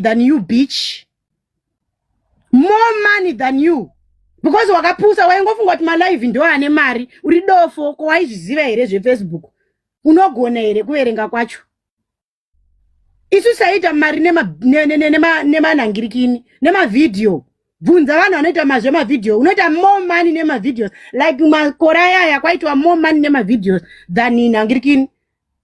than you bitch more money than you because wakapusa waingofunga kuti malive ndo ane mari uri dofo ko waizviziva here zvefacebook unogona here kuverenga kwacho isu saita mari nemanhangirikini nemavhidhiyo bvunza vanhu vanoita mazve mavhidhiyo unoita more money nemavideos like makore ayaya kwaitwa more money nemavideos than nhangirikini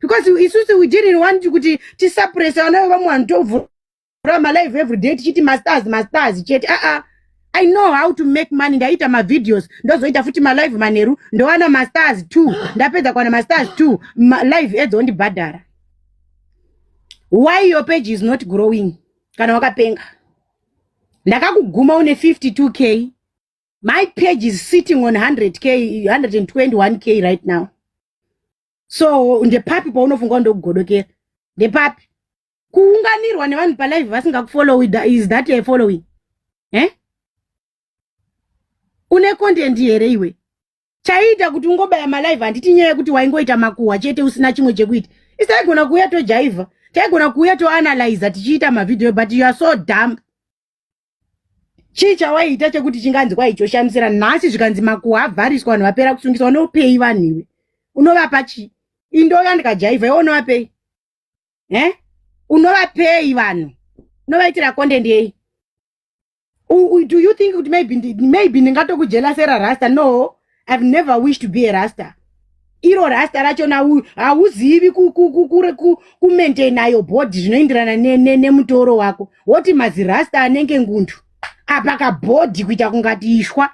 because isusu we didn't want kuti tisuppressa vana vevamwe vanhu tovhura malive every day tichiti mastars mastars chete aa ah, ah. i know how to make money ndaita mavideos ndozoita futi malive manheru ndowana mastars two ndapedza kuwana mastars two live edzo ndibhadhara why your page is not growing kana wakapenga ndakakuguma une 52 k my page is sitting on 100 k 121 k right now so ndepapi paunofunga ndokugodokera ndepapi kuunganirwa nevanhu palive vasingakufollowi is that a following eh? une content here iwe chaiita kuti ungobaya malive handiti nyaya yekuti waingoita makuhwa chete usina chimwe chekuita isaigona kuuya tojaivha taigona kuuya toanalyza tichiita mavhidhiyo but you are so dump chii chawaiita chekuti chinganzi kwai choshamisira nhasi zvikanzi makuwa avhariswa vanhu vapera kusungiswa unopei vanhu iwe unovapa chii indouya ndikajaivha iwe unovapei e unovapei vanhu unovaitira content yei do you think kuti maybe maybe ndingatokujelasera rasta no i've never wished to be a rasta iro rasta racho hauzivi kumaintaina yo body zvinoenderana nemutoro wako woti mazirasta anenge ngundu apa kabhodhi kuita kungati ishwa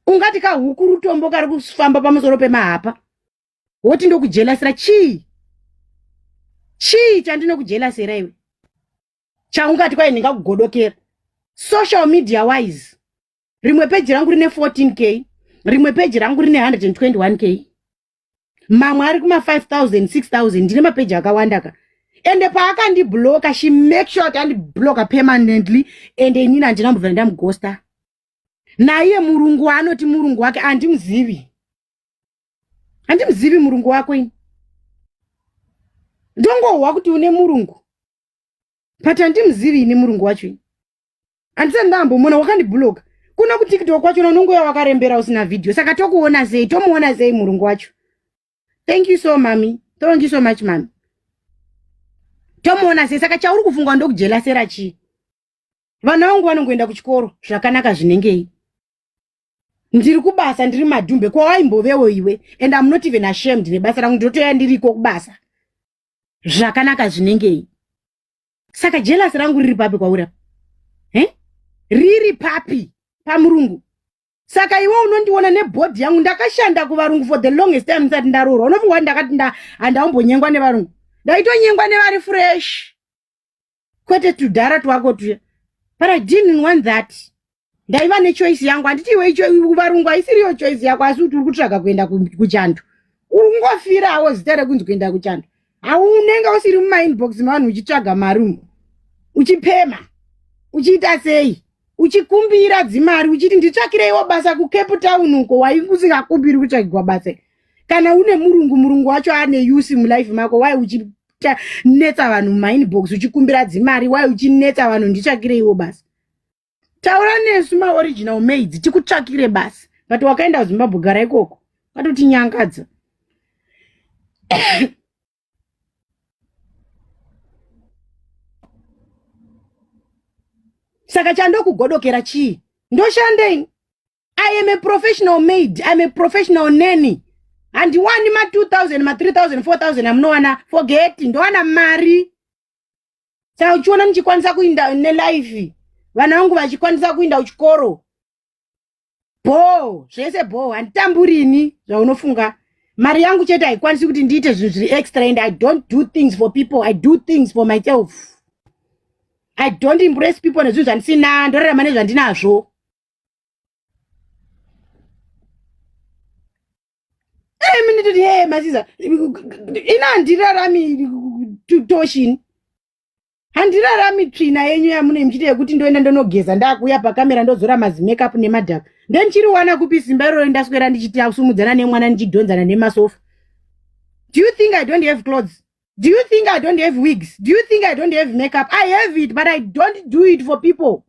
ungati kahuku rutombo kari kufamba pamusoro pemahapa woti ndokujelasira chii chii chandinokujelasira iwe chaungati kwaye ndingakugodokera social media wise rimwe peji rangu rine 14 k rimwe peji rangu rine 121 k mamwe ari kuma 5000 6000 ndine mapeji akawanda ka ende paakandibloka she make sure kuti andibloka permanently ende inini handina mbovera ndamugosta naiye murungu waanoti murungu wake andimuzivi handimuzivi murungu wako ini ndongohwa kuti une murungu but handimuzivi ini murungu wacho ini andisati ndambomona wakandibhuloka kuna kutiktok kwachona unongoya wakarembera usina vhidhiyo saka tokuona sei tomuona sei murungu wacho thank you so mami thank you so much mami tomuona sei saka chauri kufungwa ndokujelasera chii vana vangu vanongoenda kuchikoro zvakanaka zvinengei ndiri kubasa ndiri madhumbe kwawaimbovewo iwe and am not even ashamed nebasa rangu ndinotoya ndiriko kubasa zvakanaka zvinengei saka jealous rangu riri papi kwauri apa eh? riri papi pamurungu saka iwe unondiona nebhodhi yangu ndakashanda kuvarungu for the longest time ndisati ndaroorwa unofunga kuti ndakati handaumbonyengwa nevarungu ndaitonyengwa nevari fresh kwete tudhara twako tuya but i didn't want that ndaiva nechoice yangu handiti iwe varungu haisiriyo choice yako asi kuti uri kutsvaga kuenda kuchando uri kungofirawo zita rekunzi kuenda kuchando haunenge usiri mumainbox mevanhu uchitsvaga mari umo uchipema uchiita sei uchikumbira dzimari uchiti nditsvakireiwo basa kucape town uko waikusingakumbiri kutsvagirwa basa kana une murungu murungu wacho ane usi mulife mako wai uchinetsa vanhu mumainbox uchikumbira dzimari wai uchinetsa vanhu nditsvakireiwo basa taura nesu maoriginal maids tikutsvakire basi but wakaenda kuzimbabwe gara ikoko watotinyangadza saka chandokugodokera chii ndoshandei i am a professional maid iam a professional nany handiwani ma 2000 ma 3000 4000 amunowana forget ndowana mari saka uchiona ndichikwanisa kuinda nelife vana vangu vachikwanisa kuinda kuchikoro bhoo zvese bhoo handitamburini zvaunofunga mari yangu chete haikwanisi kuti ndiite zvinhu zviri extra and i don't do things for people i do things for myself i don't impress people nezvinhu zvandisina ndorarama nezvandinazvo Hey, mimi nitoti hey masiza. Ina handirarami toshini. Handirarami tsvina yenyu yamune mchita yekuti ndoenda ndonogeza ndakuya pakamera ndozora mazi makeup nemadhaka. Ndenchiri wana kupi simba iroro ndaswera ndichiti akusumudzana nemwana ndichidhonzana nemasofa. Do you think I don't have clothes? Do you think I don't have wigs? Do you think I don't have makeup? I have it, but I don't do it for people.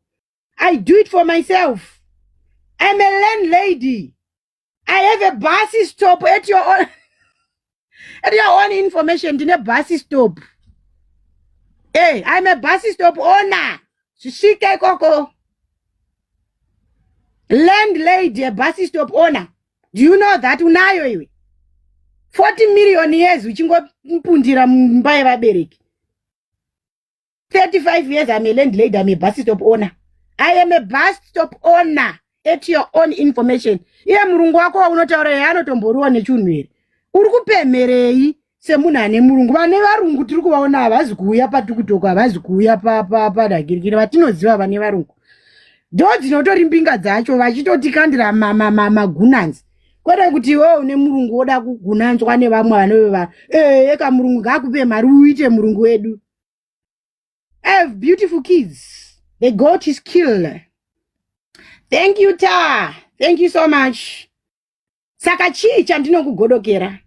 I do it for myself. I'm a landlady. i have a bus stop at your own, at your own information ndine bus stop hey, eh, i'm a bus stop owner zvisvike ikoko landlady a bus stop owner do you know that unayo iwe 40 million years uchingopundira mumba yevabereki 35 years I'm a landlady, I'm a bus stop owner. I am a bus stop owner at your own information. Iye murungu wako waunotaura yeye anotomboriwa nechunhu here? Uri kupemherei semunhu ane murungu? Vane varungu tiri kuvaona havazi kuuya patikutoko, havazi kuuya padagirikiri, vatinoziva vane varungu. Ndo dzinotori mbinga dzacho vachitotikandira magunanzi kwete kuti iwewe une murungu woda kugunanzwa nevamwe vanove vanhu. Ee, eka murungu ngaakupe mari uite murungu wedu. I have beautiful kids. The goat is killed. Thank you, Ta. Thank you so much. Saka chii chandinokugodokera?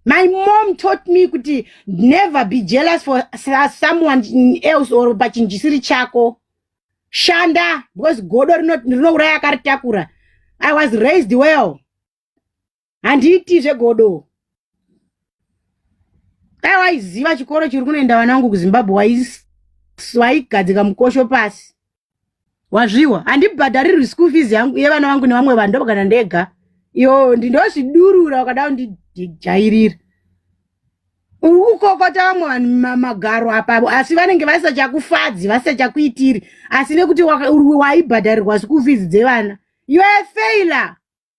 My mom taught me kuti never be jealous for someone else or pachinjisiri chako. Shanda because godo rinouraya akaritakura. I was raised well. handiiti zvegodo dai waiziva chikoro chiri kunoenda vana vangu kuzimbabwe wais- waigadzika mukosho pasi wazviwa handibhadharirwi school fees yangu yevana vangu nevamwe vanhu ndopakana ndega iyo ndinozvidurura wakada kundijairira uri kukokota vamwe vanhu ma- magaro apa asi vanenge vasachakufadzi vasachakuitiri asi nekuti waka- uri- waibhadharirwa school fees dzevana you are a failer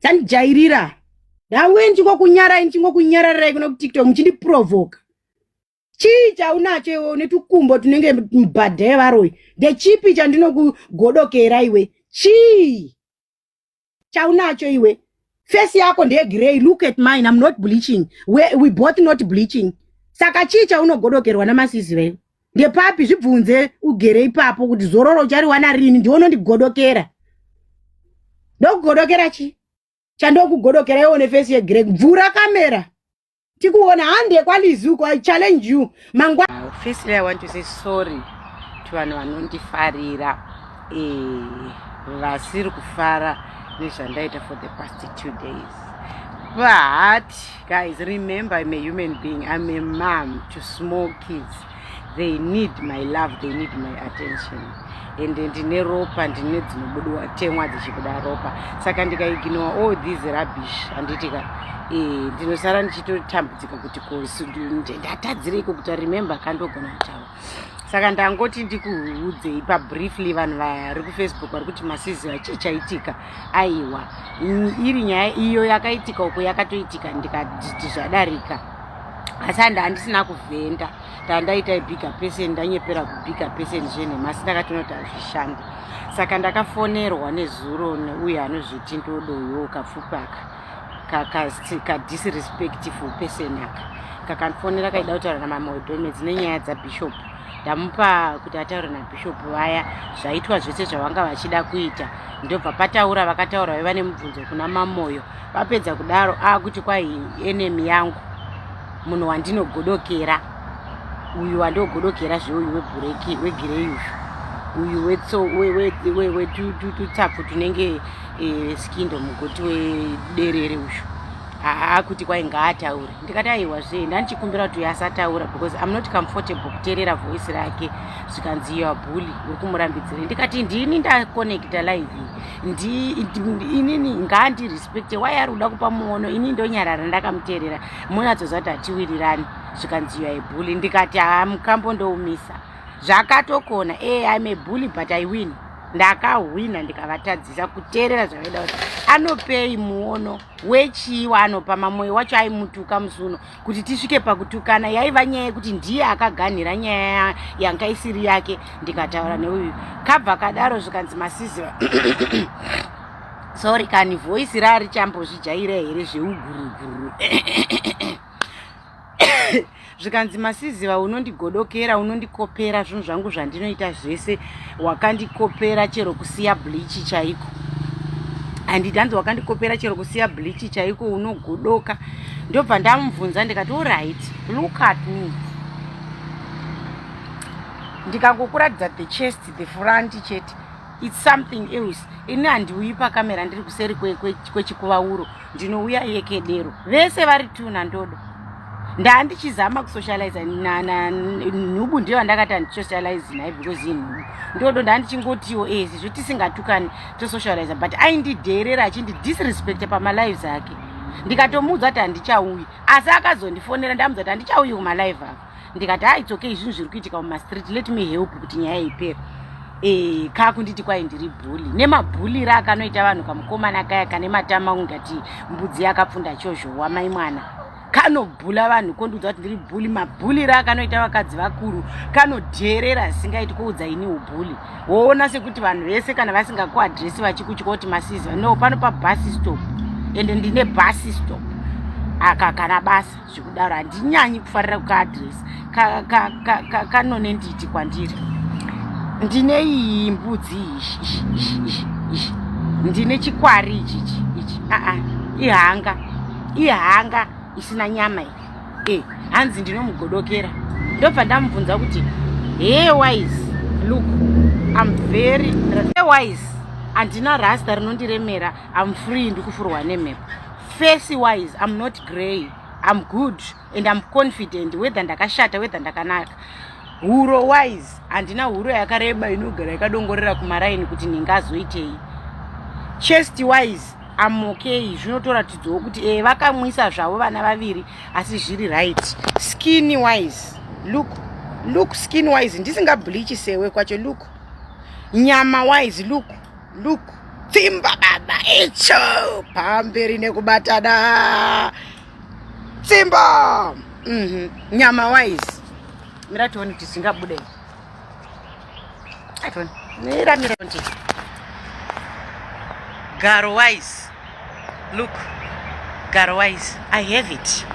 tandijairira hanguye ndichingokunyarai ndichingokunyararirai kuna kutiktok muchindiprovoka chii chaunacho iwe une tukumbo tunenge mbhadha yevaroyi ndechipi chandinokugodokera iwe chii chaunacho iwe fesi yako ndeyegrey look at mine am not bleaching we, we both not bleaching saka chii chaunogodokerwa namasiziva iwe ndepapi zvibvunze ugere ipapo kuti zororo uchariwana rini ndiwe unondigodokera ndokugodokera chi chandokugodokera iwe une fesi yegrek bvura kamera tikuona hande kwalizi uko i challenge you mangwa firstly i want to say sorry to vanhu vanondifarira eh, vasiri kufara nezvandaita for the past two days but Guys, remember I'm a human being. I'm a mom to small kids. They need my love, they need my attention. And ndine ropa, ndine dzinobudiwa temwa dzichibuda ropa. Saka ndikaignore all this rubbish handitika eh, ndinosara ndichitotambudzika kuti ko ndatadzirei kokuti remember kandogona kutaura. saka ndangoti ndikuudzei pabriefly vanhu vari kufacebook vari kuti masiziva chii chaitika aiwa iri nyaya iyo yakaitika uko yakatoitika ndikati zvadarika asi handi handisina kuvhenda tandaita ibiga person ndanyepera kubiga person zvenhema asi ndakatinoti hazvishandi saka ndakafonerwa nezuro neuyo anozviti ndodoyoka pfupaka kadisrespectful person aka kakandifonera kaida kutaura namamwe wedhomedzi nenyaya dzabishop ndamupa kuti ataure nabishop vaya zvaitwa zvese zvavanga vachida kuita ndobva pataura vakataura vaiva nemubvunzo kuna mamoyo vapedza kudaro akuti kwai enemy yangu munhu wandinogodokera uyu wandogodokera zveuyu webhureki wegireyi uyu uyu wetso wetutapfu tunenge e, skindo mugoti wederere uyu haa kuti kwai ngaataure ndikati aiwa zve ndandichikumbira kuti uyo asataura because im not comfortable kuteerera voice rake zvikanzi yoa bully uri kumurambidzire ndikati ndini ndakonekta live inini ngaandirespecte wai ari kuda kupa muono ini ndonyarara ndakamuteerera munatsoziva kuti hatiwirirani zvikanzi yoa bully ndikati haa mukambo ndoumisa zvakatokona e eh, im a bully but i win ndakahwina ndikavatadzisa kuteerera zvavaida kuti anopei muono wechii waanopa mamoyo wacho aimutuka musi uno kuti tisvike pakutukana yaiva nyaya yekuti ndiye akaganhira nyaya yanga isiri yake ndikataura neuyu kabva kadaro zvikanzi masiziva sorry kani voisi raarichambozvijaira here zveuguruguru zvikanzi masiziva unondigodokera unondikopera zvinhu zvangu zvandinoita zvese wakandikopera chero kusiya blichi chaiko handiti hanzi wakandikopera chero kusiya blichi chaiko unogodoka ndobva ndamubvunza ndikati orit look at me ndikangokuratidza the chest the front chete its something else ini handiuyi pakamera ndiri kuseri kwechikuvauro kwe, kwe ndinouya yekedero vese vari tuna ndodo ndaa ndichizama kusocialize nhubu ndiyo andakati andisocialize naye because inhubu ndodo ndaa ndichingotiwo ezi eh, zvo tisingatukani tosocialize but aindidheerera achindidisrespect pamalives ake ndikatomuudza kuti handichauyi asi akazondifonera ndamuudza kuti handichauyi kumalive ako ndikati ha ah, it's okay zvinhu zviri kuitika mumastreet let me help kuti nyaya ipere e, eh, kaa kunditi kwai ndiri bhuli nemabhulire akanoita vanhu kamukomana kaya kane matama ungati mbudzi yakapfunda chozhowa mai mwana kanobhula vanhu kondiudza kuti ndiri bhuli mabhulire akanoita vakadzi vakuru kanodheerera zvisingaiti kuudza ini ubhuli woona sekuti vanhu vese kana vasingakuadresi vachikutya kuti masiziva no pano pabhasi stop ende ndine bhasi stop aka kana basa zvikudaro handinyanyi kufarira kukaadress kanonenditi kwandiri ndine iyi mbudzi ishi ndine chikwari ichichi ichi aa ihanga ihanga isina nyama iyi e eh, hanzi ndinomugodokera ndobva ndamubvunza kuti hey wise look im very hey wise handina rasta rinondiremera I'm free ndikufurwa nemhepo face wise I'm not grey I'm good and I'm confident whether ndakashata whether ndakanaka huro wise handina huro yakareba inogara yakadongorera kumaraini kuti ndingazoitei chest wise I'm okay zvinotoratidzawo kuti eh vakamwisa zvavo vana vaviri asi zviri right skin wise look look skin wise ndisingableach sewe kwacho look nyama wise look Look, tsimba baba icho pamberi nekubatana tsimba mm -hmm. nyama wise mira tione kuti zvingabude mira mira kuti garo wise look garo wise i have it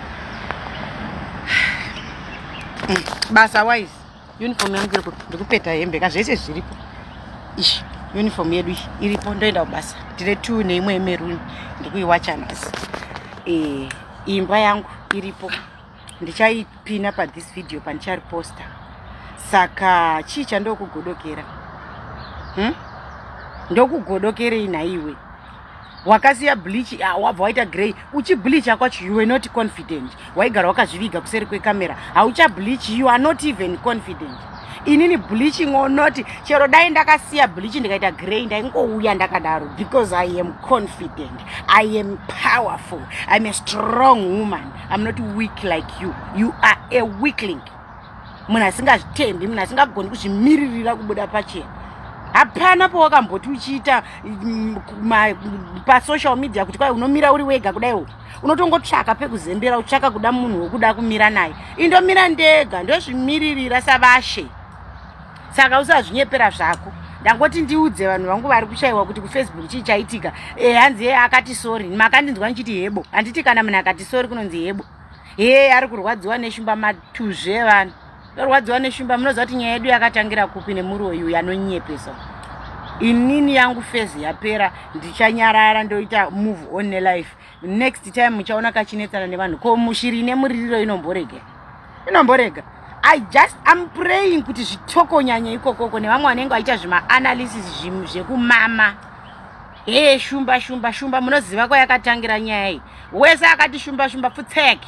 mm. basa wise Uniform yangu iri kupi? Ndikupeta hembe ka zvese zviripo. Ish, uniform yedu iyi iripo ndoenda kubasa. Tine two neimwe yemeruni ndikuiwacha nhasi. Eh, imba yangu iripo. Ndichaipina pa this video pandichari poster. Saka chii chandokugodokera? Hmm? Ndokugodokerei nhaiwe? wakasiya bleach ah, wabva waita grey uchibleacha kwacho you were not confident waigara wakazviviga kuseri kwecamera hauchableach you are not even confident inini bleaching or not chero dai ndakasiya bleaching ndikaita grey ndaingouya ndakadaro because i am confident i am powerful iam a strong woman iam not weak like you you are a weakling munhu asingazvitendi munhu asingagoni kuzvimiririra kubuda pachena hapana powakamboti uchiita mm, pasocial media kuti kwai unomira uri wega kudaiwo unotongotsvaka pekuzembera utsvaka kuda munhu wokuda kumira naye indomira ndega ndozvimiririra savashe saka usazvinyepera zvako ndangoti ndiudze vanhu vangu vari kushayiwa kuti kufacebook chii chaitika e hanzi yeye akati sori makandinzwa ndichiti hebo handiti kana munhu akati sori kunonzi hebo hee ari kurwadziwa neshumba matuzvi evanhu torwadziwa neshumba munoziva kuti nyaya yedu yakatangira kupi nemuroyi uyu anonyepesa inini yangu fezi yapera ndichanyarara ndoita move on nelife next time muchaona kachinetsana nevanhu ko mushiri ine muririro inomborega inomborega i just am praying kuti zvitokonyanya ikokoko nevamwe vanenge vaita zvimaanalysis zvekumama Hee shumba shumba shumba munoziva kwayakatangira nyaya iyi. Wese akati shumba shumba pfutseki.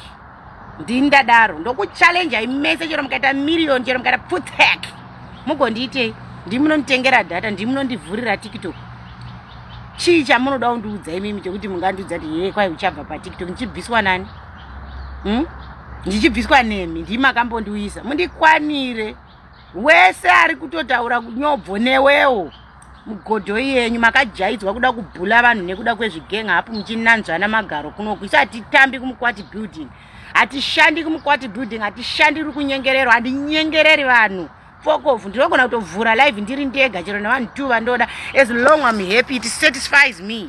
Ndini ndadaro ndokuchallenjai mese chero mukaita million chero mukaita pfutseki. Mugondiitei? Ndimi munonditengera data, ndimi munondivhurira TikTok. Chii chamunoda kundiudza imimi chekuti mungandiudza kuti hee kwai uchabva paTikTok ndichibviswa nani? Hmm? Ndichibviswa nemi ndimi makambondiuyisa. Mundikwanire. Wese ari kutotaura nyobvo newewo. mugodho yenyu makajaidzwa kuda kubhula vanhu nekuda kwezvigenga hapo muchinanzvana magaro kunoku isu hatitambi kumukwati building hatishandi kumukwati building hatishandiri kunyengerero handinyengereri vanhu fokovu ndinogona kutovhura live ndiri ndega chero nevanhu two vandoda as long am happy it satisfies me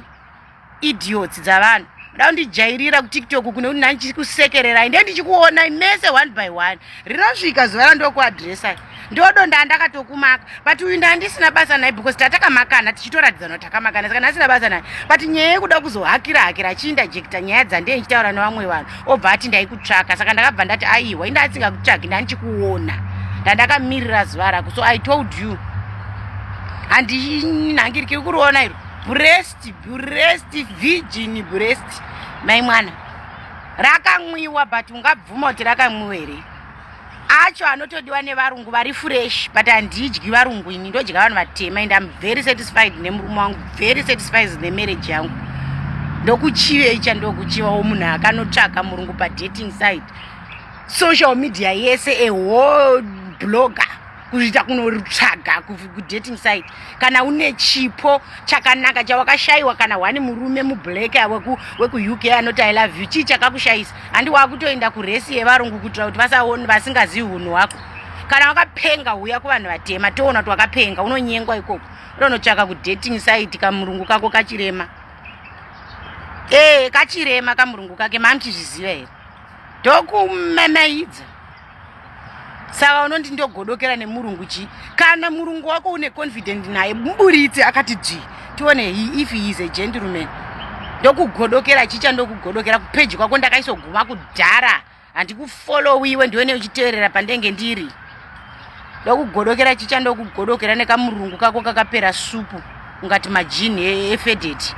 idiots dzavanhu muda kundijairira kutiktok kune kuti nani chikusekererai ndiye ndichikuonai mese one by one rinosvika zuva randokuadressai ndodonda andakatokumaka but uyu ndandisina basa naye because tatakamakana tichitoratidzana kuti takamakana saka ndasina basa naye but nyaya yekuda kuzohakira hakira achiindajekita nyaya dzandiye ndichitaura nevamwe vanhu obva ati ndaikutsvaka saka ndakabva ndati aiwa inda asingakutsvagi ndandichikuona ndandakamirira zuva rako so i told you handinhangirikiri kuriona iro brest breast virgin breast mai mwana rakamwiwa but ungabvuma kuti rakamwiwa here acho anotodiwa nevarungu vari fresh but handidyi varungu ini ndodya vanhu vatema and am very satisfied nemurume wangu very satisfied nemarriage yangu ndokuchiva icha ndokuchiva wo munhu akanotsvaka murungu padating side social media yese ehol blogger kuzviita kunotsvaga kudating site kana une chipo chakanaka chawakashayiwa kana wani murume mublack wekuuk anoti i love you chii chakakushayisa handi wakutoenda kuresi yevarungu kuitira kuti vasaoni vasingazivi hunhu hwako kana wakapenga huya kuvanhu vatema toona kuti wakapenga unonyengwa ikoko unonotsvaka kudating site kamurungu kako kachirema ee eh, kachirema kamurungu kake mamuchizviziva here ndokumemeidza saka unondi ndogodokera nemurungu chii kana murungu wako une confident naye muburitse akati dzvii tione if he is a gentleman ndokugodokera chii chandokugodokera kupeji kwako ndakaisoguma kudhara handikufollowiwe ndione uchiteerera pandenge ndiri ndokugodokera chii chandokugodokera nekamurungu kako kakapera supu ungati majini e, efedeti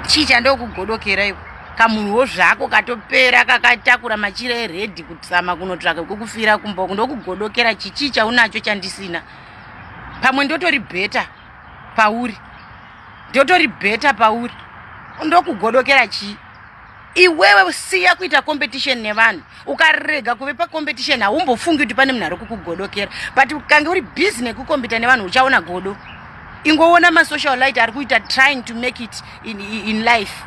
chii chandokugodokera iko kamunhuwo zvako katopera kakatakura machira eredhi kutsama kunotsvaka kwekufira kumba uku ndokugodokera chichii chaunacho chandisina pamwe ndotori bheta pauri ndotori bheta pauri ndokugodokera chii iwewe siya kuita competition nevanhu ukarega kuve pacompetition haumbofungi kuti pane munhu ari kukugodokera but ukange uri busy nekukompita nevanhu uchaona godo ingoona masocial light ari kuita trying to make it in, in life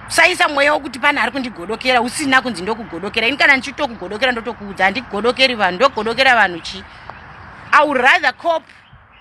saisa mweya wokuti pane ari kundigodokera usina kunzi ndokugodokera ini kana ndichitokugodokera ndotokuudza handikugodokeri vanhu ndokugodokera vanhu chii i would rather cop